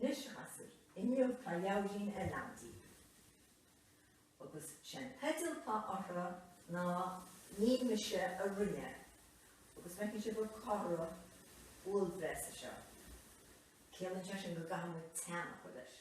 Anois a ghasúir, inniu tá leabhairín eile agam daoibh. Agus sé'n teideal atá uirthi ná Ní Mise a Rinne é. Agus feiceann sibh an comhartha uaillbhreasa seo. Ciallaíonn sé sin go gcaithfidh muid teannadh a chur leis.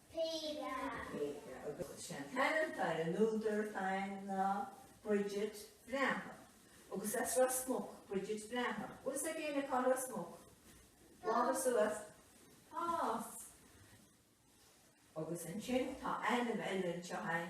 Peadar. Peadar agus is é an t-ainm atá ar an údar féin ná Bridget Bhreathnach agus as Ros Muc Bridget Bhreathnach. Bhfuil a fhios ag éinne cá bhfuil Ros Muc? Lámha suas. Pass. Agus ansin tá ainm eile anseo fhéin.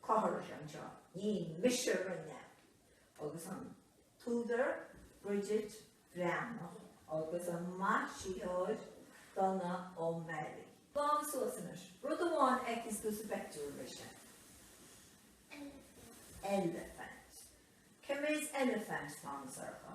Gabh ar ais anseo, ní mise a rinne é, agus an t-údar Bridget Bhreathnach agus an maisitheoir Donough O'Malley. Lámha suas anois rud amháin a fheiceanns tú sa bpictiúr, mise. Eilifint. Eilifint. Cé mhéad eilifint atá ann, a Shorcha?